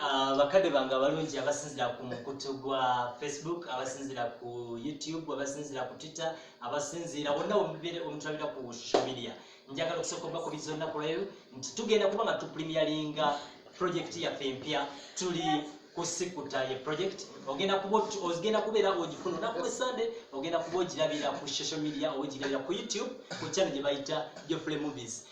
Ah, bakadde bange abalungi abasinzira ku mukutu gwa facebook abasinzira ku youtube abasinzira ku twitter abasinzira wonna wemubere omutulabira ku social media njagala okusooka obakubiza olunaku lweyo nti tugenda kuba nga tuprimialinga project yaffe empya tuli kusikuta ye project ogenda kuba ogenda kubeera ogifuna olunaku lwe sande ogenda kuba ogirabira ku social media ogirabira ku youtube ku channel gye bayita geoffrey movies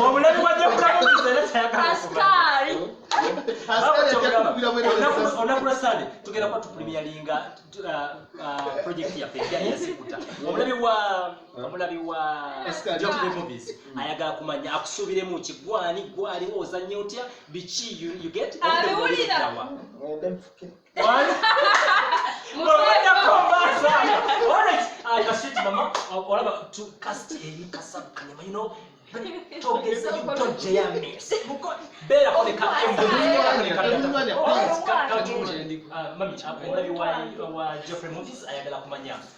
obulabi bwajjakukaonaku lwasande tugenda kuba tupulimiyalinga project yaffe eyasikuta omulabi wa omulabi wa movies ayagala kumanya akusuubiremu ki gwani gwali ozanya otya biki you get mami ayagala kumanya